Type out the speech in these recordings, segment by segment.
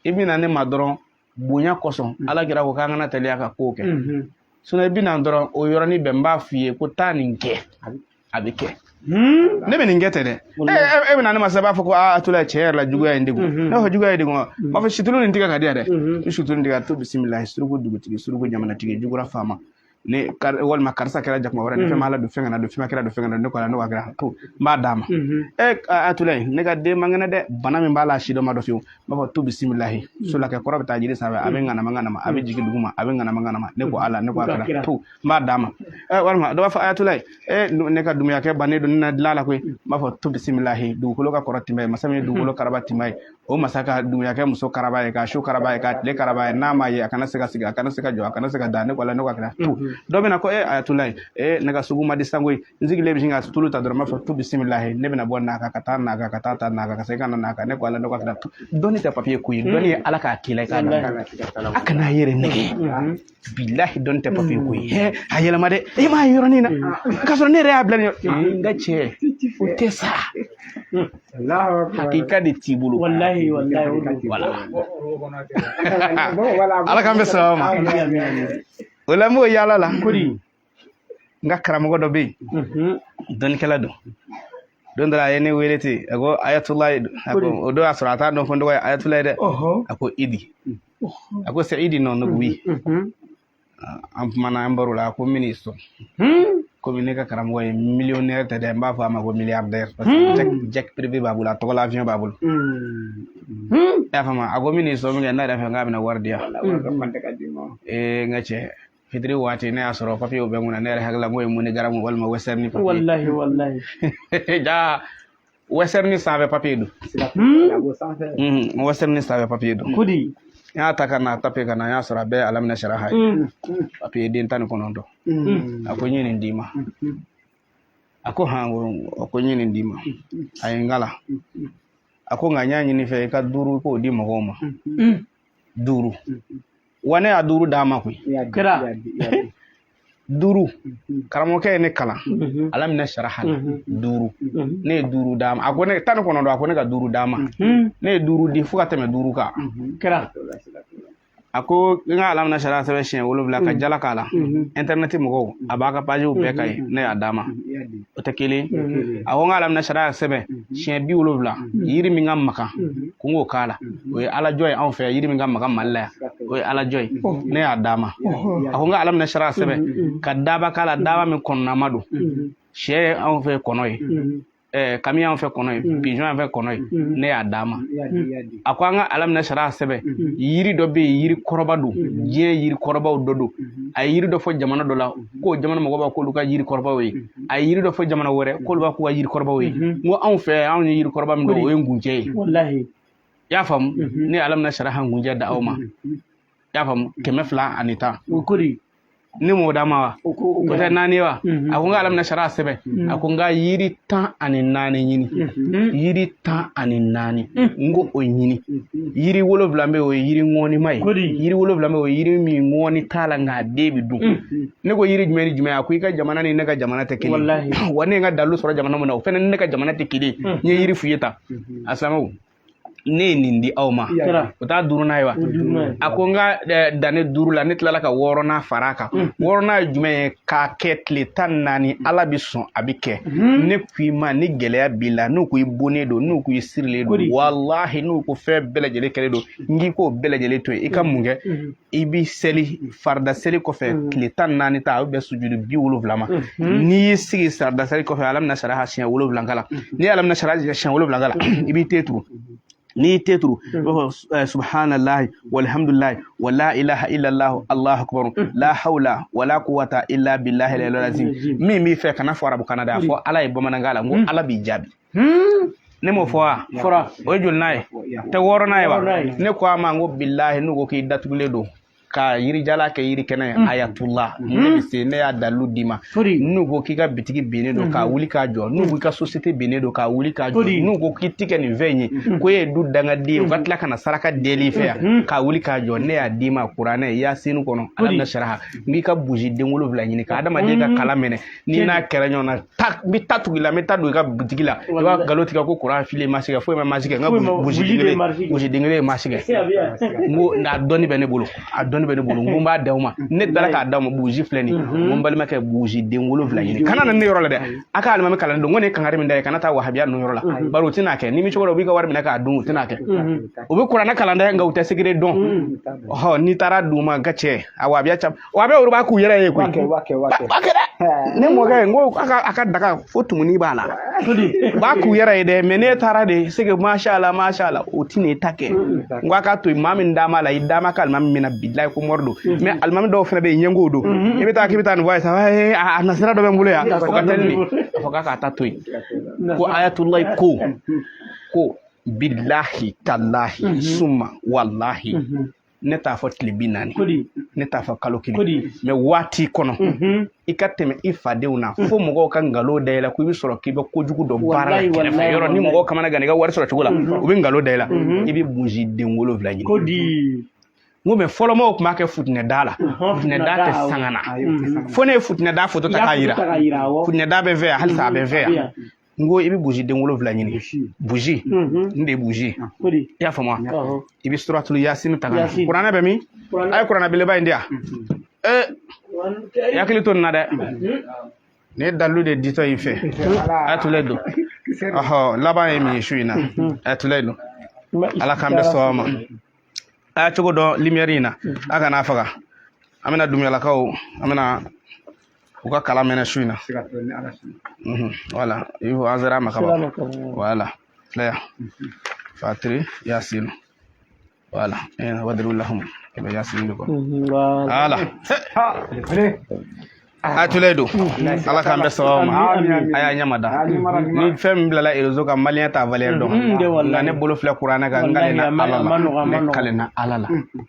i bɛna ne ma dɔrɔn bonya kosɔn mm. ala kira ko k'an kana teliya ka kow kɛ mm-hmm. sinɔn i bɛna dɔrɔn o yɔrɔnin bɛɛ n b'a f'i ye ko taa nin kɛ a bɛ kɛ hmm? ne bɛ nin kɛ tɛ dɛ e bɛna ne ma sisan b'a fɔ ko ayatulayi tiɲɛ yɛrɛ la juguya ye n degun mm-hmm. ne b'a fɔ juguya y'i degun wa mm-hmm. n b'a fɔ situlu nin tigɛ ka di yan dɛ i situlu nin tigɛ a tu bisimila suruku dugutigi suruku jamanatigi jugura faama ne walima karisa kɛra jakuma wɛrɛ ne fɛn ma ala dɔn fɛn kana n dɔn fɛn ma kira dɔn fɛn kana n dɔn ne ko ala ne ko a kira tu n b'a d'a ma e ayatulayi ne ka den man kɛnɛ dɛ bana min b'a la si dɔ ma dɔn fiyewu n b'a fɔ tu bisimilahi sulakɛ kɔrɔ bɛ taa jiri sanfɛ a bɛ ŋanama ŋanama a bɛ jigin duguma a bɛ ŋanama ŋanama ne ko ala ne ko a kira tu n b'a d'a ma ɛ walima dɔ b'a fɔ ayatulayi e ne ka dumuyakɛ bannen don ne na dilan la koyi n b'a fɔ tu bisimilahi dugukolo ka kɔrɔ tɛmɛ ye masa min ye dugukolo karaba tɛmɛ ye o masa ka dumuyakɛ muso karaba ye ka su karaba ye ka tile karaba ye n'a ma n ye a kana se ka sigi a kana se ka jɔ a kana se ka da ne ko ala ne ko a kira tu dɔ bɛna ko e ayatulayi e ne ka sugu man di sango ye n sigilen bɛ sin ka tulu ta dɔrɔn n b'a fɔ tu bisimilahi ne bɛna bɔ n'a kan ka taa n'a kan ka taa ta n'a kan ka segin ka na n'a kan ne ko ala ne ko a kira tu dɔnni tɛ papiye ko ye dɔnni ye ala k'a k'i la i k'a dɔn a kana a yɛrɛ nɛgɛn bilahi dɔnni tɛ papiye ko ye hɛ a yɛlɛma dɛ e m'a ye yɔrɔnin na k'a sɔrɔ ne yɛrɛ y'a bila nin yɔrɔ ee n ka cɛ o tɛ sa hakika de t'i bolo walahi walahi o don. wala ala k'an bɛn sababu ma o la n b'o yaala la kodi n ka karamɔgɔ dɔ bɛ yen Mhm. dɔnnikɛla don don dɔ la a ye ne wele ten a ko ayatulayi a ko o don y'a sɔrɔ a t'a dɔn ko n tɔgɔ ye ayatulayi dɛ Ɔhɔ. a ko idi a ko c'est idi non ne ko wi Mhm. an kumana an baro la a ko n bɛn'i sɔn Hmm. komi ne ka karamɔgɔ ye millionnaire tɛ dɛ n b'a fɔ a ma ko milliardaire parce que jet- jet privé b'a bolo a tɔgɔ la avion b'a bolo Hmm. Hmm. i y'a faamu a ko n bɛn'i sɔn minkɛ ne yɛrɛ fɛ n k'a bɛna wari di yan Wari ka fan tɛ ka d'i ma. ee n ka cɛ fitiri waati ne y'a sɔrɔ papiyew bɛ n kunna ne yɛrɛ hakili la ko ye MoneyGram walima Western papiye walahi walahi jaa Western sanfɛ papiye don Mhm, Western sanfɛ papiye don kodi n y'a ta ka na tape ka na n y'a sɔrɔ a bɛɛ alamina saraha ye papiye den tan ni kɔnɔntɔn a ko n ye nin d'i ma a ko han a ko n ye nin d'i ma a ye n kalan a ko nka n y'a ɲini i fɛ i ka duuru i k'o di mɔgɔw ma duuru wa ne y'a duuru d'a ma koyi kira duuru mhm. karamɔgɔkɛ ye ne kalan mhm. alamina saraha la mhm. duuru ne ye duuru d'a ma a ko ne tan ni kɔnɔntɔn a ko ne ka duuru d'a ma ne ye duuru di fo ka tɛmɛ duuru kan kira a ko n ka alamina saraha sɛbɛn siɲɛ wolonwula ka jala k'a la internet mɔgɔw a b'a ka pajiw bɛɛ ka ye ne y'a d'a ma o tɛ kelen a ko n ka alamina saraha sɛbɛn siɲɛ bi wolonwula yiri min ka magan ko n k'o k'a la o ye alajɔ ye anw fɛ yan yiri min ka magan mali la yan o ye alajɔ ye ne y'a d'a ma a ko n ka alamina saraha sɛbɛn ka daba k'a la daba min kɔnɔnama don sɛ ye anw fɛ kɔnɔ ye kami y'an fɛ kɔnɔ ye pigeon y'an fɛ kɔnɔ ye ne y'a d'a ma a ko an ka alamina saraha sɛbɛn mhm. yiri dɔ bɛ yen yiri kɔrɔba don mhm. diɲɛ yiri kɔrɔbaw dɔ don mhm. a ye yiri dɔ fɔ jamana dɔ la ko jamana mɔgɔw b'a k'olu ka yiri kɔrɔbaw ye a ye yiri dɔ fɔ jamana wɛrɛ k'olu b'a k'u ka yiri kɔrɔbaw ye n ko anw fɛ anw ye yiri kɔrɔba min don o ye ngunjɛ ye i y'a faamu ne ye alamina saraha ngunjɛ da aw ma i y'a faamu kɛmɛ fila ani tan ne m'o d'a ma wa o t'a naani ye wa a ko n ka alamina saraha sɛbɛn a ko n ka yiri tan ani naani ɲini yiri tan ani naani n ko o ɲini yiri wolonwula bɛ yen o ye yiri ŋɔnima ye yiri wolonwula bɛ yen o ye yiri min ŋɔni t'a la nka a den bɛ dun ne ko yiri jumɛn ni jumɛn a ko i ka jamana ni ne ka jamana tɛ kelen wa ne ye n ka dalu sɔrɔ jamana min na o fana ni ne ka jamana tɛ kelen n ye yiri f'i ye tan a silamɛw ne ye nin di aw ma o t'a duurunan ye wa a ko n ka eh, dan nin duuru la ne tilala ka wɔɔrɔnan fara a kan mm. wɔɔrɔnan ye jumɛn ye k'a kɛ tile tan ni naani mm. ala bɛ sɔn a bɛ kɛ mm-hmm. ne ko i ma ni gɛlɛya b'i la n'u ko i bonnen don n'u ko i sirilen don walahi n'u ko fɛn bɛɛ lajɛlen kɛlen don n k'i k'o bɛɛ lajɛlen to yen i ka mm-hmm. mun kɛ mm-hmm. i bi seli farida seli kɔfɛ mm. tile tan ni naani ta a bɛ bɛn sujudi bi wolonwula ma mm-hmm. n'i y'i sigi farida seli kɔfɛ alamina saraha siɲɛ wolonwula kalan mm-hmm. n'i ye alamina saraha siɲɛ wolonwula kalan i b'i ten turu n'i y'i ten turu i b'a fɔ eh, subahanallahi walhamdulilayi wa la ilaha illallah allahu akbar mm-hmm. la hawla wa la quwwata illa billahi al-aliyyil azim min b'i fɛ kana fɔ arabukan na dɛ a fɔ ala ye bamanankan la n ko ala b'i jaabi ne m'o fɔ wa fɔra o ye jolinan ye tɛ wɔɔrɔnan ye wa ne ko a ma n ko bilahi n'u ko k'i datugulen don ka yiri jalan kɛ yiri kɛnɛ ye ayatula ne bɛ se ne y'a dalilu d'i ma n'u ko k'i ka bitigi binnen don k'a wuli k'a jɔ n'u ko i ka sosiyete binnen don k'a wuli k'a jɔ n'u ko k'i ti kɛ nin fɛn in ye ko e ye du dangaden ye u ka tila ka na saraka deli i fɛ yan k'a wuli k'a jɔ ne y'a d'i ma kuranɛ yasini kɔnɔ alamina saraha n k'i ka buji den wolonwula ɲini ka adamaden ka kala minɛ n'i n'a kɛra ɲɔgɔn na ta n bɛ ta tugu i la n bɛ ta don i ka butigi la i b'a nkalon tigɛ ko kuran fili masi kɛ foyi ma masi kɛ n ka buji den kelen buji den kelen masi kɛ n ko a dɔnni bɛ ne bolo a dɔnni bɛ ne bolo n ko n b'a d'aw ma ne taara k'a d'aw ma buji filɛ nin ye n ko n balimakɛ buji den wolonwula ɲini kana na ne yɔrɔ la dɛ a ka alimami kalan don n ko ne ye kangari min da ye kana taa wahabiya ninnu yɔrɔ la bari u tɛna kɛ ni min cogo la u b'i ka wari minɛ k'a dun u tɛna kɛ u bɛ kuranɛ kalan dɛ nka u tɛ sekere dɔn n'i taara d'u ma n ka cɛ a wahabiya wa bɛ olu b'a k'u yɛrɛ ye koyi b'a kɛ dɛ ne mɔkɛ n ko a ka daga fo tumuni b'a la b'a k'u yɛrɛ ye dɛ mɛ n'e taara de seke mashala mashala o ti ne ta kɛ n ko a ka to yen maa min d'a ma la i d'a ma ka alimami minɛ bilayi ko mɔri don mɛ alimami dɔw fana bɛ yen ɲɛngow don i bɛ taa k'i bɛ taa nin fɔ a ye sa a nasira dɔ bɛ n bolo yan o ka teli nin a fɔ k'a ka ta to yen ko ayatulayi ko ko bilahi talahi suma walahi ne t'a fɔ tile bi naani ne t'a fɔ kalo kelen mɛ waati kɔnɔ mhm. i ka tɛmɛ i fadenw na mhm. fo mɔgɔw ka nkalon da i la ko i bɛ sɔrɔ k'i bɛ kojugu dɔ baara la kɛrɛfɛ yɔrɔ ni mɔgɔw kamana gan i ka wari sɔrɔ cogo la mhm. u bɛ nkalon da i la i bɛ buji den wolonwula ɲini n ko mɛ fɔlɔ mɔgɔw tun b'a kɛ futinɛda la futinɛda tɛ sanga na fo ne ye futinɛda foto ta k'a yira futinɛda bɛ n fɛ yan halisa a bɛ n fɛ yan n ko i bɛ buji den wolonwula ɲini buji n de ye buji i y'a faamu wa i bɛ suratulu yasini ta ka na kuranɛ bɛ min a ye kuranɛ belebeleba in di yan ee i hakili to nin na dɛ ne ye dalilu de ditɔ i fɛ ayatula don ɔhɔ laban ye min ye su in na ayatula don ala k'an bɛɛ sɔn a ma a ye cogo don limiyɛri in na a kana faga an bɛna dumuyalakaw an bɛna u ka kalan mɛnɛ su in na wala i ko an sera a ma kaban wala filɛ fatiri yasin wala wadiribu lahumu kɛmɛ yasin de kɔ wala ayatula don ala k'an bɛɛ sɔn a ma a y'a ɲɛma da ni fɛn min bilala erezo kan maliyɛn t'a valɛri dɔn nka ne bolo filɛ kuranɛ kan n kalena ala la ne kalena ala la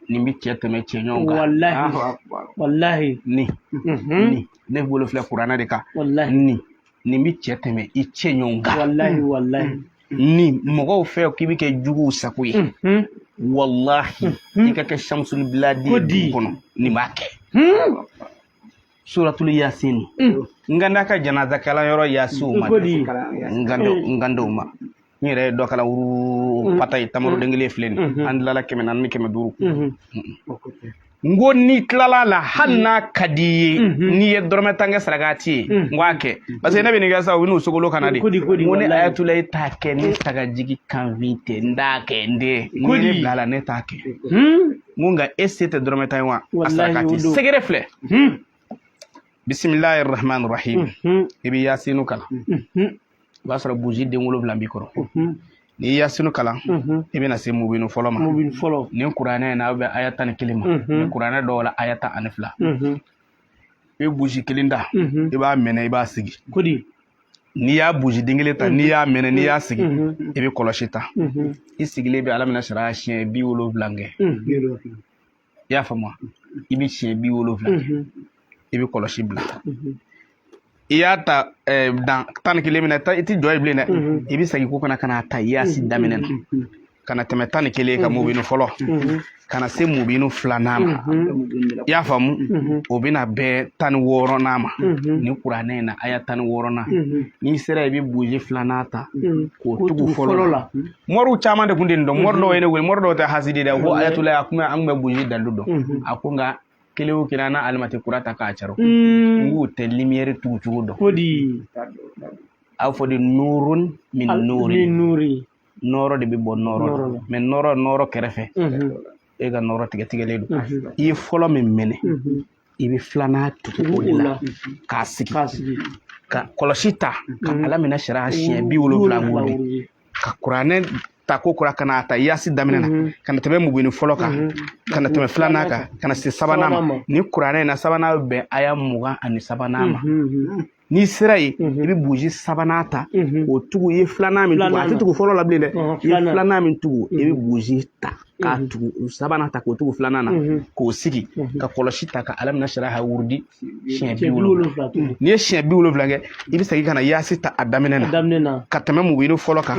nin bɛ cɛ tɛmɛ cɛ ɲɔgɔn kan walahi ni ni ne bolo filɛ kuranɛ de kan ni nin bɛ cɛ tɛmɛ i cɛ ɲɔgɔn kan walahi walahi ni mɔgɔw fɛ k'i bɛ kɛ juguw sago ye walahi i ka kɛ samusulu biladi kɔnɔ nin b'a kɛ suratul yasin mm. n ka n'a ka janaza kalan yɔrɔ yasiw ma n ka dɔw ma n yɛrɛ ye dɔ kala wuru mm. pata ye tamaroden mm. kelen filɛ nin mm-hmm. an tilala kɛmɛ naani ni kɛmɛ duuru mm-hmm. n ko n'i tilala la hali n'a ka di i ye mm-hmm. n'i ye dɔrɔmɛ tan kɛ sarakati ye n ko a kɛ parce que ne bɛ nin kɛ sa u bɛ n'u sogolo kana de n ko ne ayatula e t'a kɛ ne sagajigi kanfin tɛ n t'a kɛ n den n ko ne bilala ne t'a kɛ hmm? n ko nka e se tɛ dɔrɔmɛ tan ye wa a sarakati sekere filɛ bisimilahi rahman rahim i bɛ yasinu kalan o b'a sɔrɔ buji den wolonwula b'i kɔrɔ n'i ye yasinu kalan i bɛna se mubinu fɔlɔ ma ni kuranɛ in na a bɛ aya tan ni kelen ma ni kuranɛ dɔw la aya tan ani fila i bɛ buji kelen ta i b'a mɛnɛ i b'a sigi n'i y'a buji den kelen ta n'i y'a mɛnɛ n'i y'a sigi i bɛ kɔlɔsi ta i sigilen bɛ alami nasara siɲɛ bi wolonwula kɛ i y'a faamu i bɛ siɲɛ bi wolonwula i bɛ kɔlɔsi bila i y'a ta dan tan ni kelen min na i tɛ jɔ yen bilen dɛ i bɛ segin kɔ ka na ka n'a ta yasin daminɛ na ka na tɛmɛ tan ni kelen kan mubinu fɔlɔ ka na se mubinu filanan ma i y'a faamu o bɛna bɛn tan ni wɔɔrɔnan ma ni kuranɛ in na aya tan ni wɔɔrɔnan n'i sera i bɛ buji filanan ta k'o tugu fɔlɔ la mɔriw caman de tun tɛ nin dɔn mɔri dɔw ye ne wele mɔri dɔw tɛ hasidi dɛ ko ayatulayi a kun bɛ an kun bɛ buji dalu dɔn a ko nka kelen o kelen an na alimɛti kura ta k'a caro n k'u tɛ limiyɛri tugu cogo dɔn a fɔ de nurun min nuri nɔɔrɔ de bɛ bɔ nɔɔrɔ la mɛ nɔɔrɔ nɔɔrɔ kɛrɛfɛ e ka nɔɔrɔ tigɛtigɛlen don i ye fɔlɔ min minɛ i bɛ filanan tugu o de la k'a sigi ka kɔlɔsi ta ka alamina saraha siɲɛ bi wolonwula wuli ka kuranɛ ta ko kura ka n'a ta yasi daminɛ na mhm. ka na tɛmɛ mubinu fɔlɔ kan mhm. ka na tɛmɛ filanan kan ka na se sabanan ma ni kuranɛ in na sabanan bɛ bɛn aya mugan ani sabanan ma mhm, n'i sera yen i bɛ buji sabanan ta k'o tugu i ye filanan min tugu a tɛ tugu fɔlɔ la bilen dɛ i ye filanan min tugu i bɛ buji ta k'a tugu sabanan ta k'o tugu filanan na k'o sigi ka kɔlɔsi ta ka alamina saraha wurudi siɲɛ bi wolonwula n'i ye siɲɛ bi wolonwula kɛ i bɛ segin ka na yaasi ta a daminɛ na ka tɛmɛ mubinu fɔlɔ kan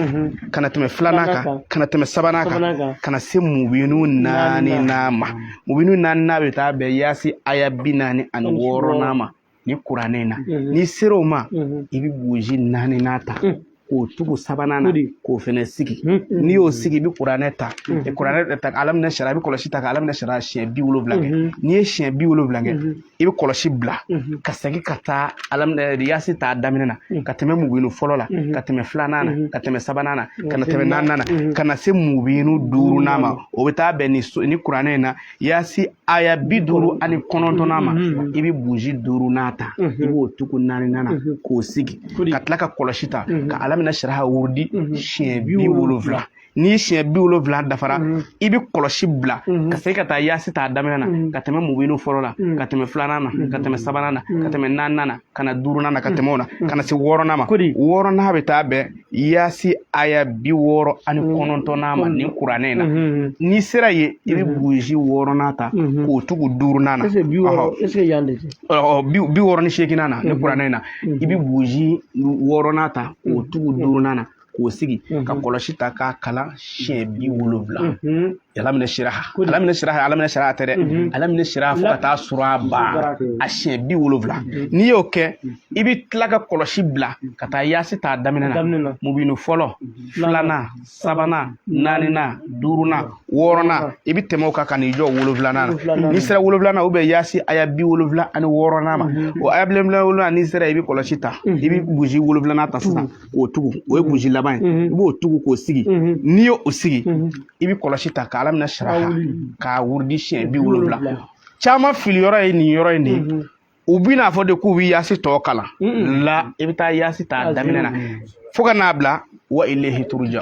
ka na tɛmɛ filanan kan ka na tɛmɛ sabanan kan ka na se mubinu naaninan ma mubinu naaninan bɛ taa bɛn yaasi aya bi naani ani wɔɔrɔnan ma ni kuranɛ in na mhm. n'i sera o ma mhm. i bɛ buji naaninan ta mhm. k'o tugu sabanan na k'o fɛnɛ sigi n'i y'o sigi i bɛ kuranɛ ta kuranɛ ta alamina saraha i bɛ kɔlɔsi ta ka alamina saraha siɲɛ bi wolonwula kɛ n'i ye siɲɛ bi wolonwula kɛ i bɛ kɔlɔsi bila ka segin ka taa alamina yasi t'a daminɛ na ka tɛmɛ mubinu fɔlɔ la ka tɛmɛ filanan na ka tɛmɛ sabanan na ka na tɛmɛ naaninan na ka na se mubinu duurunan ma o bɛ taa bɛn ni kuranɛ in na yasi aya bi duuru ani kɔnɔntɔnnan ma i bɛ buji duurunan ta i b'o tugu naaninan na k'o sigi ka tila ka kɔlɔsi ta ka alamina saraha wurudi siɲɛ bi wolonwula ni siɲɛ bi wolonwula dafara i bɛ kɔlɔsi bila ka segin ka taa yaasi t'a daminɛ na ka tɛmɛ mubinu fɔlɔ la ka tɛmɛ filanan na ka tɛmɛ sabanan na ka tɛmɛ naaninan na ka na duurunan na ka tɛmɛ o na ka na se wɔɔrɔnan ma wɔɔrɔnan bɛ taa bɛn yasi aya bi wɔɔrɔ ani mm-hmm. kɔnɔntɔnnan ma mm-hmm. ni kuranɛ na mm-hmm. n'i sera yen i bɛ buji wɔɔrɔnan ta k'o tugu duurunan na bi wɔɔrɔ ni seeginnan na ni kuranɛ na i bɛ buji wɔɔrɔnan ta k'o tugu duurunan na k'o sigi ka kɔlɔsi ta k'a kalan siɲɛ bi wolonwula alamina saraha alamina saraha alamina saraha tɛ dɛ mhm. alamina saraha fo ka taa suura ban a siɲɛ bi wolonwula mhm. n'i y'o kɛ i bɛ tila ka kɔlɔsi bila ka taa yaasi t'a daminɛ na mubinu fɔlɔ mhm. filanan sabanan naaninan duurunan wɔɔrɔnan i bɛ tɛmɛ o kan ka n'i jɔ wolonwulanan na n'i sera wolonwulanan na o bɛ bɛn yaasi aya bi wolonwula ani wɔɔrɔnan ma o aya bi wolonwula n'i sera i bɛ kɔlɔsi ta i bɛ buji wolonwulanan ta sisan k'o tugu o ye burusi laban ye i b'o tugu k'o sigi n'i y'o sigi i bɛ kɔlɔsi ta ka alamina sara k'a wurudi siɲɛ bi wolonwula caman fili yɔrɔ ye nin yɔrɔ in de ye u bi n'a fɔ de k'u bɛ yaasi tɔ kalan la i bɛ taa yaasi ta daminɛ na fo ka n'a bila wa ilayhi turuja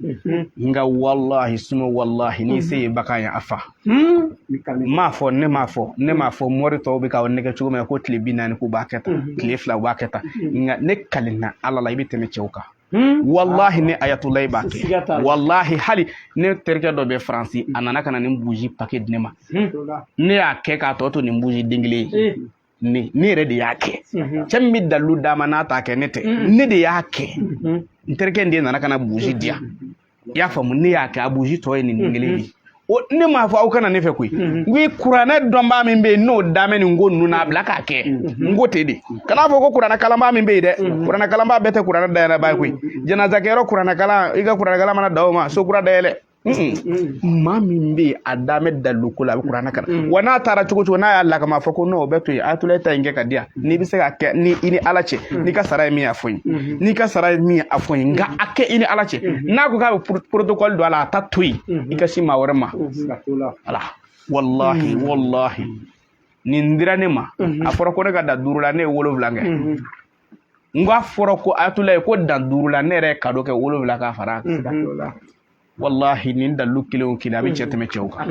Mhm. nka walahi suma walahi n'i se ye bagan ye a fa hmm? m'a fɔ ne m'a fɔ ne m'a fɔ mori tɔw bɛ k'aw nɛgɛn cogo min na ko tile bi naani k'u b'a kɛ tan mhm. tile fila u b'a kɛ tan mhm. nka ne kalenna ala la i bɛ tɛmɛ cɛw kan hmm? walahi ne ayatulayi b'a kɛ walahi hali ne terikɛ dɔ bɛ faransi a nana ka na nin buruzi pake di ne ma hmm? ne y'a kɛ k'a tɔ to nin buruzi den kelen ye eh. ne ne yɛrɛ de y'a kɛ cɛ min bɛ dalilu d'a ma n'a t'a kɛ ne tɛ ne de y'a kɛ n terikɛ in de nana ka na burusi di yan i y'a faamu ne y'a kɛ a burusi tɔ ye nin den kelen de ye o ne m'a fɔ aw ka na ne fɛ koyi n ko i kuranɛ dɔnbaa min bɛ yen n'o damɛ nin ko ninnu na a bila k'a kɛ n ko ten de kan'a fɔ ko kuranɛ kalanbaa min bɛ yen dɛ kuranɛ kalanbaa bɛɛ tɛ kuranɛ dayɛlɛbaa ye koyi janazakɛyɔrɔ kuranɛ kalan i ka kuranɛ kalan mana dan o ma so kura dayɛlɛ maa min bɛ yen a da bɛ dalilu ko la a bɛ kuranɛ kalan wa n'a taara cogo cogo n'a y'ala kama fɔ ko n'o bɛ to yen ayatulayi ta in kɛ ka di yan n'i bɛ se ka kɛ ni i ni ala cɛ n'i ka sara ye min a fɔ n ye n'i ka sara ye min a fɔ n ye nka a kɛ i ni ala cɛ n'a ko k'a bɛ protocole don a la a ta to yen i ka se maa wɛrɛ ma ala walahi walahi nin dira ne ma a fɔra ko ne ka dan duuru la ne ye wolonwula kɛ n ko a fɔra ko ayatulayi ko dan duuru la ne yɛrɛ ye kado kɛ wolonwula k'a fara a kan walahi nin dalilu kelen o kelen a bɛ cɛ tɛmɛ cɛw kan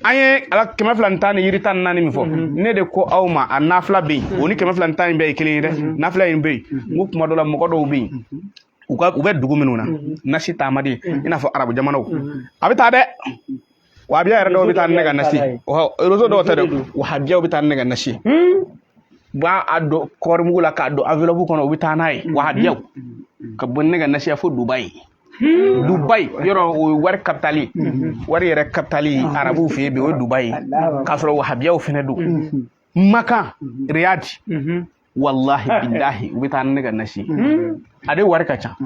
an ye ala kɛmɛ fila ni tan ni yiri tan ni naani min fɔ ne de ko aw ma a nafila bɛ yen o ni kɛmɛ fila ni tan in bɛɛ ye kelen ye dɛ nafila in bɛ yen n ko kuma dɔ la mɔgɔ dɔw bɛ yen u ka u bɛ dugu minnu na nasi taa man di i n'a fɔ arabu jamanaw a bɛ taa dɛ wahabiya yɛrɛ dɔw bɛ taa ne ka nasi rezo dɔw tɛ dɛ wahabiyaw bɛ taa ne ka nasi b'a a don kɔɔri mugu la k'a don enveloppe kɔnɔ u bɛ taa n'a ye wahabiyaw ka bɔ ne ka nasi ye fo dubayi dubayi yɔrɔ o ye wari kapitali wari yɛrɛ kapitali arabuw fɛ yen bi o ye dubayi k'a sɔrɔ wahabiyaw fɛnɛ don makan riyadi walahi bilahi u bɛ taa ne ka nasi a de wari ka ca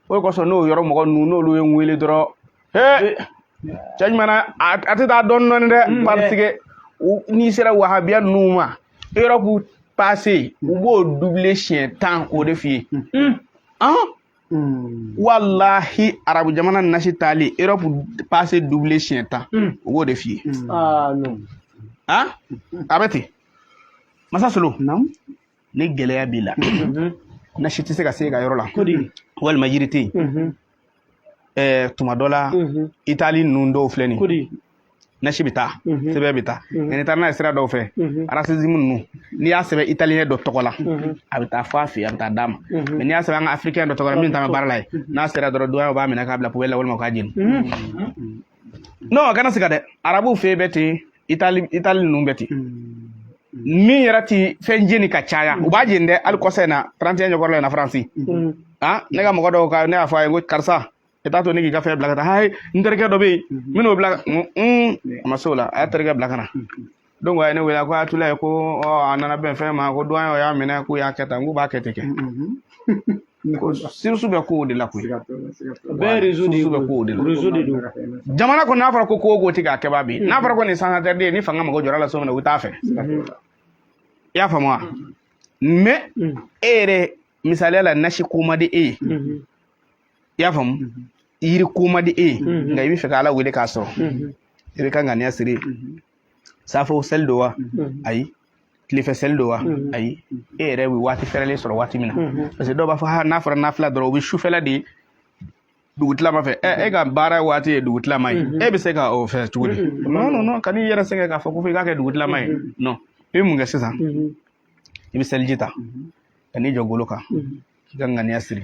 o de kosɔn n'o yɔrɔ mɔgɔ ninnu n'olu ye n wele dɔrɔn he cɛ ɲuman na a a tɛ taa dɔɔni dɔɔni dɛ Mm. parce que u- n'i sera wahabiya ninnu ma europe paase u b'o dubile siɲɛ tan k'o de f'i ye an walahi arabu jamana nasi taali europe paase dubile siɲɛ tan u b'o de f'i ye Ah, non. an a bɛ ten masa solo Naam. ni gɛlɛya b'i la nasi tɛ se ka se e ka yɔrɔ la walima yiri tɛ yen ɛɛ tuma dɔ la itali ninnu dɔw filɛ nin ye nasi bɛ taa sɛbɛn bɛ taa nka n'i taara n'a ye sira dɔw fɛ arasizimu ninnu n'i y'a sɛbɛn italiyɛn dɔ tɔgɔ la a bɛ taa fɔ a fɛ yen a bɛ taa d'a ma mais n'i y'a sɛbɛn an ka afirikɛn dɔ tɔgɔ la min t'an ka baara la ye n'a sera dɔrɔn duwanyɛw b'a minɛ k'a bila poubelle la walima u k'a jeni non a kana siga dɛ arabuw fɛ yen bɛ ten itali itali ninnu bɛ ten min yɛrɛ ti fɛn jeni ka caya u b'a jeni dɛ hali kɔsa in na 31 ɲɛkɔrɔla in na faransi ah ne ka mɔgɔ dɔw ka ne y'a fɔ a ye ko karisa i t'a to ne k'i ka fɛn bila ka taa hayi n terikɛ dɔ bɛ yen n bɛn'o bila ka na a ma se o la a y'a terikɛ bila ka na donc a ye ne wele ko a tula ye ko ɔ a nana bɛn fɛn ma ko duwan y'a minɛ k'u y'a kɛ tan k'u b'a kɛ ten kɛ sirisu bɛ kow de la koyi bɛɛ rezo de bɛ kow de la rezo de don jamana kɔnɔ n'a fɔra ko ko ko ti k'a kɛba bi n'a fɔra ko nin sangatɛriden ye ni fanga mago jɔr'a la so min na u t'a fɛ i y'a faamu wa mais e yɛrɛ misaliya la nasi ko man di e ye i y'a faamu yiri ko man di e ye nka i bɛ fɛ ka ala wele k'a sɔrɔ i bɛ ka ŋaniya siri safo seli don wa ayi tilefɛ seli don wa ayi e yɛrɛ bɛ waati fɛrɛlen sɔrɔ waati min na parce que dɔw b'a fɔ ha n'a fɔra nafila dɔrɔn o bɛ sufɛla de dugutilama fɛ ɛ e ka baara waati ye dugutilama ye e bɛ se ka o fɛ cogo di non non non kan'i yɛrɛ sɛgɛn k'a fɔ ko fo i k'a kɛ dugutilama ye non i bɛ mun kɛ sisan i bɛ seliji ta ka n'i jɔ golo kan k'i ka ŋaniya siri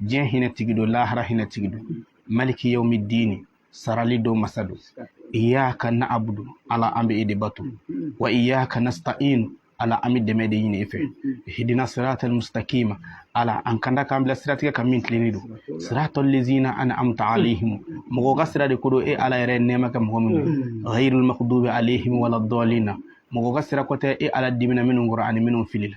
diɲɛ hinɛ tigi don lahara hinɛ tigi don maliki yawmi dini sarali don masa don iyaka na'abudu ala an bɛ e de bato wa iyaka nasta'in ala an bɛ dɛmɛ de ɲini e fɛ ihdina siratal mustaqima ala an kanda k'an bila siratigɛ kan min tilennen don siratal lezina an'amta alaihim mɔgɔ ka sira de ko don e ala yɛrɛ nɛɛma kɛ mɔgɔ minnu ghayril maghdubi alaihim wala dalina mɔgɔ ka sira ko tɛ e ala dimina minnu kɔrɔ ani minnu filila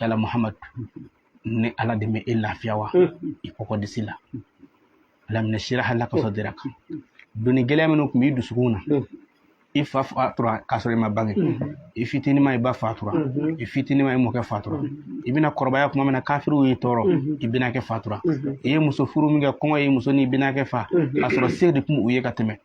yala muhamad ne ala de ma e lafiya wa i kɔkɔ disi la alam nashrah laka sadraka doni gɛlɛya minnu tun b'i dusukun na i fa fatura k'a sɔrɔ i ma bange i fitinin ma i ba fatura i fitinin ma i mɔkɛ fatura i bɛna kɔrɔbaya kuma min na kafiriw y'i tɔɔrɔ i bɛnakɛ fatura i ye muso furu min kɛ kɔngɔ ye muso ni bɛnakɛ fa k'a sɔrɔ se de tun u ye ka tɛmɛ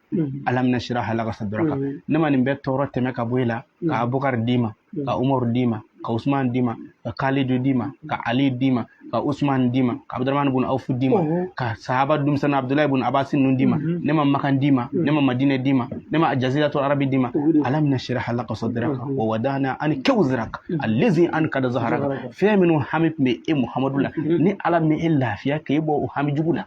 alam nashrah laka sadraka ne ma nin bɛɛ tɔɔrɔ tɛmɛ ka bɔ e la ka abukari d'i ma ka umaru d'i ma ka usman d'i ma ka kalidu d'i ma ka ali d'i ma ka usman d'i ma ka abudurahmani bun awfu d'i ma ka sahaba dumisɛnna abudulayi bun abasi ninnu d'i ma ne ma makan d'i ma ne ma madinɛ d'i ma ne ma jaziratu arabi d'i ma alam nashrah laka sadraka wa wadana anka wizraka alezi ankada zahraka fɛn minnu hami tun bɛ e muhamadu la ne ala m'e lafiya k'e bɔ o hami jugu la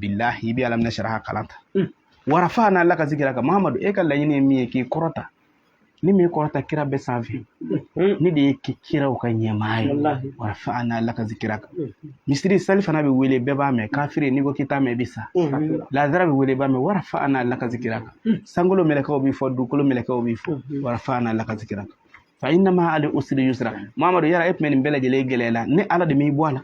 bilahi i bɛ alam nashrah kalan ta hmm. wa rafa'na laka zikraka mahamadu e ka laɲini ye min ye k'i kɔrɔta ne m'i kɔrɔta kira bɛɛ sanfɛ hmm. ne de y'i kɛ kiraw ka ɲɛmaa ye wa rafa'na laka zikraka hmm. misiri salifana bɛ wele bɛɛ b'a mɛn kafiri n'i ko k'i t'a mɛn i bɛ sa lazara bɛ wele b'a mɛn wa rafa'na laka zikraka sankolo mɛlɛkɛw b'i fɔ dugukolo mɛlɛkɛw b'i fɔ wa rafa'na laka zikraka fa inna ma'al usri yusra mahamadu yala e tun bɛ nin bɛɛ lajɛlen gɛlɛya la ne ala de m'i bɔ a la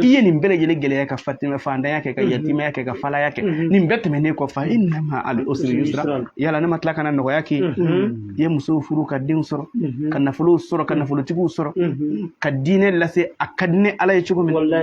i ye nin bɛɛ lajɛlen gɛlɛya ka faantanya kɛ ka mhm. yatimaya kɛ ka falaya kɛ mhm. nin bɛɛ tɛmɛnen kɔ fa inna ma'al usri yusra yala ne ma tila ka na nɔgɔya k'i mhm. ye musow furu ka denw sɔrɔ ka nafolow sɔrɔ ka nafolotigiw sɔrɔ ka diinɛ lase a ka di ne ala ye cogo min na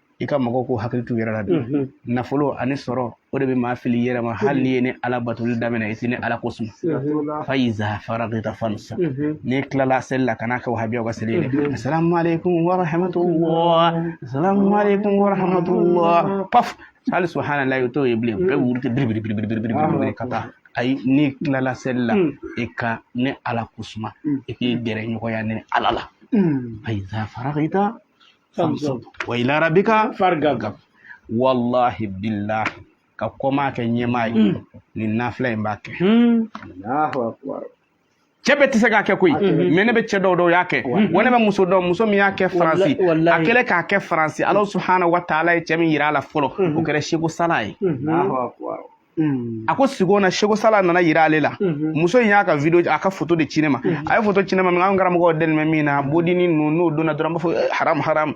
i ka mɔgɔw ko hakili t'u yɛrɛ la bi nafolo ani sɔrɔ o de bɛ maa fili yɛrɛ ma hali n'i ye ne ala batoli daminɛ i tɛ ne ala ko suma fa iza faragita fansab n'i tilala seli la kana kɛ wahabiyaw ka seli ye dɛ salamalekun warahamatullah salamalekun warahamatullah paf hali subahanalayi o t'o ye bilen bɛɛ wuli tɛ biribiri biribiri biribiri biribiri ka taa ayi n'i tilala seli la i ka ne ala ko suma i k'i gɛrɛ ɲɔgɔnya ne ala la fa iza faragita fansab wa ila rabbika fargab wallahi billahi ka kɔmaa kɛ ɲɛmaa ye mm. nin nafila in b'a kɛ mm. cɛ bɛɛ tɛ se k'a kɛ koyi mɛ ne bɛ cɛ dɔw dɔn u y'a kɛ wa ne bɛ muso dɔn muso min y'a kɛ faransi a kɛlen k'a kɛ faransi ala subahana wa taala ye cɛ min yira a la fɔlɔ o kɛra seko sala ye Mm. a ko sigo na seko sala nana yira ale la mm-hmm. muso in y'a ka video a ka foto de ci ne ma mm-hmm. a ye foto ci ne ma min an karamɔgɔ dɛnmɛ min na mm-hmm. bodini ninnu n'o donna dɔrɔn b'a fɔ eh, haram haram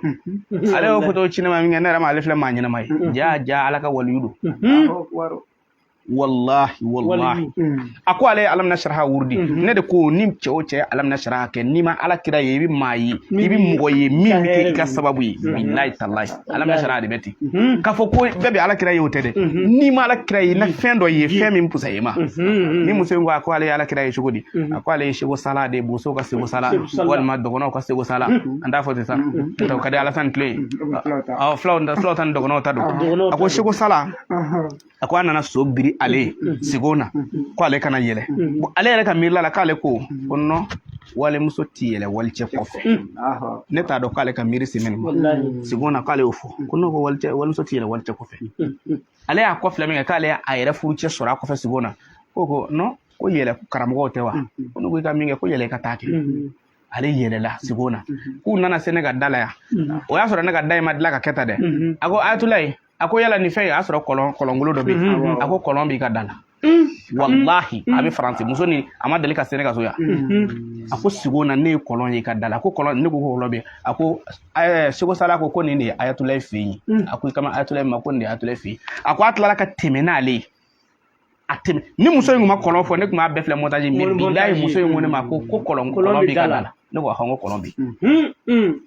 ale y'o foto ci ne ma min kɛ ne yɛrɛ ma ale filɛ maa ɲɛnama ye jaa jaa ala ka waliyu don wallahi wallahi a ko ale ye alam nashrah wurudi mhm. ne de ko ni cɛ o cɛ alam nashrah kɛ n'i ma ala kira ye i bɛ maa ye i bɛ mɔgɔ ye min bɛ kɛ i ka sababu ye mhm. bilayi talayi alam nashrah de bɛ ten mhm. k'a fɔ ko bɛɛ bɛ ala kira ye o tɛ dɛ n'i ma ala kira ye na fɛn dɔ ye fɛn min fusa i ma nin muso in ko a ko ale ye ala kira ye cogo di a ko ale ye seko sala de boso ka seko sala walima dɔgɔnɔw ka seko sala an t'a fɔ ten sa n'o ka di ala tan ni tile ye fulaw ta ni dɔgɔnɔw ta don a ko seko sala a ko a nana so biri ale ye sigo na ko ale ka na yɛlɛ ale yɛrɛ ka miirila la k'ale ko ko non walimuso ti yɛlɛ walicɛ kɔfɛ ne t'a dɔn k'ale ka miiri semɛni ma sigo na k'ale y'o fɔ ko non ko walicɛ walimuso ti yɛlɛ walicɛ kɔfɛ ale y'a kɔfilɛ min kɛ k'ale y'a yɛrɛ furucɛ sɔrɔ a kɔfɛ sigo na ko ko non ko yɛlɛ karamɔgɔw tɛ wa ko n'u ko i ka min kɛ ko yɛlɛ i ka taa kɛ ale yɛlɛla sigo na k'u nana se ne ka da la yan o y'a sɔrɔ ne ka da in ma dilan ka kɛ tan dɛ a ko ayatulayi a ko yala nin fɛn y'a sɔrɔ kɔlɔnkolon dɔ bɛ yen a ko kɔlɔn b'i ka da la walahi a bɛ faransi muso ni a ma deli ka se ne ka so yan a ko sigo na ne ye kɔlɔn ye i ka da la a ko kɔlɔn ne ko ko kɔlɔn bɛ a ko seko sala ko ko nin de ye ayatulayi fɛ yen a ko i kama ayatulayi ma ko nin de ye ayatulayi fɛ yen a ko a tilala ka tɛmɛ n'ale ye a tɛmɛ ni muso in tun ma kɔlɔn fɔ ne tun b'a bɛɛ filɛ montage mais bilahi muso in ko ne ma ko ko kɔlɔn kɔlɔn b'i ka da la ne ko ahɔn ko kɔlɔn bi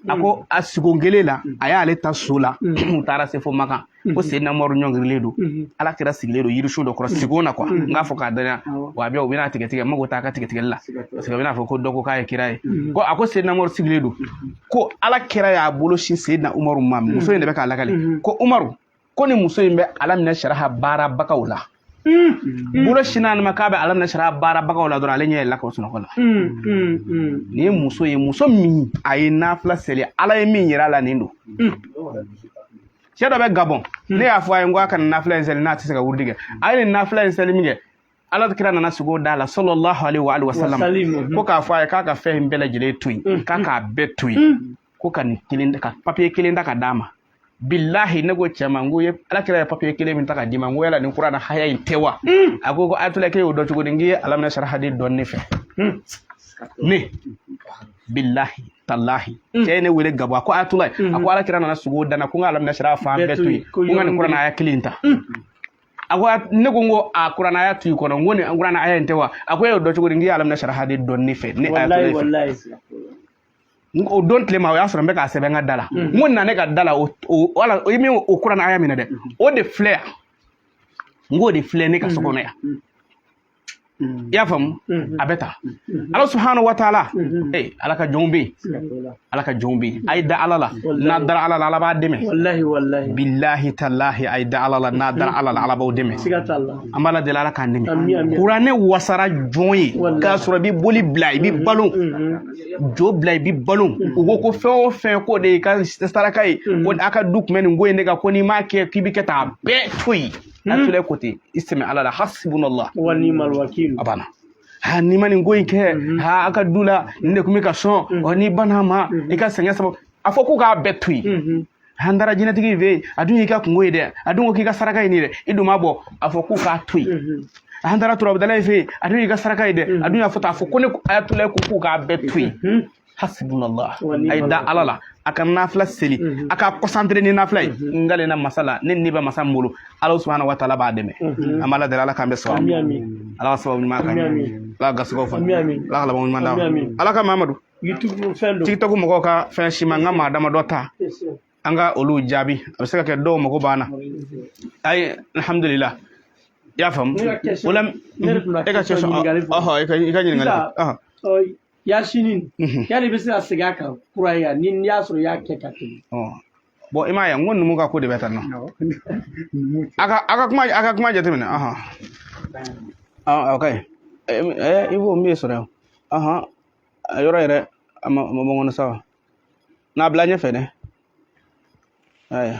a ko a sigo kelen la a y'ale ta so la u taara se fo makan ko seyidina umaru ɲɔngirilen don ala kira sigilen don yirisun dɔ kɔrɔ sigo na quoi n k'a fɔ k'a danya wa a bɛ u bɛna tigɛtigɛ mago t'a ka tigɛtigɛli la parce que a bɛna fɔ ko dɔ ko k'a ye kira ye ko a ko seyidina umaru sigilen don ko ala kira y'a bolo sin seyidina umaru ma muso in de bɛ k'a lakale ko umaru ko ni muso in bɛ alam nasaraha baarabagaw la bolo sinna a ma k'a bɛ alam nasaraha baarabagaw la dɔrɔn ale ɲɛ yɛlɛla ka bɔ sunɔgɔ la nin ye muso ye muso min a ye nafila seli ala ye min yira a la nin don cɛ dɔ bɛ gabɔn ne y'a fɔ a ye n ko a kana nafila in seli n'a tɛ se ka wurudi kɛ a ye nin nafila in seli min kɛ ala kira nana sigo d'a la sallallahu alaihi wa alihi wa sallam mhm. ko k'a fɔ a ye k'a ka fɛn in bɛɛ lajɛlen to yen mhm. k'a k'a bɛɛ to yen mhm. ko ka nin kelen ka papiye kelen ta ka d'a ma bilahi ne ko cɛ ma n ko ye ala kira ye papiye kelen min ta ka d'i ma n ko yala nin kurana haya in tɛ wa a ko ko ayatula k'e y'o dɔn cogo di n k'i ye alam nasaraha de dɔn ne fɛ ne bilahi talahi mm. cɛ ye ne wele gabɔn a ko ayatula a ko mm-hmm. ala kira nana sigo da n na ko n ka alam nasaraha fan bɛɛ to yen ko n ka nin kurana haya kelen ta mm. a ko ne ko n ko a kurana haya to i kɔnɔ n ko nin kurana haya in tɛ wa a ko e y'o dɔn cogo di n k'i ye alam nasaraha de dɔn ne fɛ ne ayatula fɛ o don tilema o y'a sɔrɔ n bɛ k'a sɛbɛn n ka da la n ko na ne ka da la o wala i min o kurana haya min ye dɛ o de filɛ yan n k'o de filɛ ne ka so kɔnɔ yan Mm. i y'a faamu mm-hmm. a bɛ ta mm-hmm. ala subahanahu wa taala mm-hmm. ee ala ka jɔnw bɛ yen ala ka jɔnw bɛ yen a ye da ala la n'a dara ala la ala b'a dɛmɛ bilahi talahi a ye da ala la n'a dara ala la ala b'aw dɛmɛ an b'ala deli ala k'an dɛmɛ kuranɛ wasara jɔn ye k'a sɔrɔ i bɛ boli bila i bɛ balo jo bila i bɛ balo u ko ko fɛn o fɛn k'o de y'i ka saraka ye ko a ka du tun bɛ nin ko in de kan ko n'i m'a kɛ k'i bɛ kɛ tan a bɛɛ to yen ne ayatula ko ten i sɛmɛ ala la hasibunallah wa ni'mal wakil a banna ha n'i ma nin ko in kɛ ha a ka du la nin de tun bɛ ka sɔn ɔ n'i banna a ma i ka sɛgɛn sababu a fɔ ko k'a bɛɛ to yen an taara jinɛtigi in fɛ yen a dun y'i ka kunko ye dɛ a dun ko k'i ka saraka ye nin dɛ i dun m'a bɔ a fɔ ko k'a to yen an taara turabudala in fɛ yen a dun y'i ka saraka ye dɛ a dun y'a fɔ tan a fɔ ko ne ayatulayi ko k'u k'a bɛɛ to yen hasbunallah a ye da ala la a ka nafila seli a ka concentré ni nafila ye n gale na masa la ne ni bɛ masa n bolo ala subhana wa taala b'a dɛmɛ an b'ala deli ala k'an bɛɛ sɔrɔ ala ka sababu ɲuman kan ala ka garisigɛw fa ala ka laban ɲuman d'a ala ka mamadu tiktok mɔgɔw ka fɛn ci n ma n ka maa damadɔ ta an ka olu jaabi a bɛ se ka kɛ dɔw mago b'an na ayi alhamdulillah i y'a faamu o la e ka question ɔhɔ i ka ɲininkali yasinin mhm. yal'i bɛ se ka segin a kan kura ye ni n'i y'a sɔrɔ i y'a kɛ ka tɛmɛ bon i m'a ye n ko numu ka ko de bɛ tan nɔ a ka a ka kuma a ka kuma jateminɛ ɔhɔn ɔ ok ɛ i b'o min sɔrɔ yan ɔhɔn a yɔrɔ yɛrɛ a ma ma bɔ n kɔnɔ sa wa n'a bila ɲɛfɛ dɛ ayiwa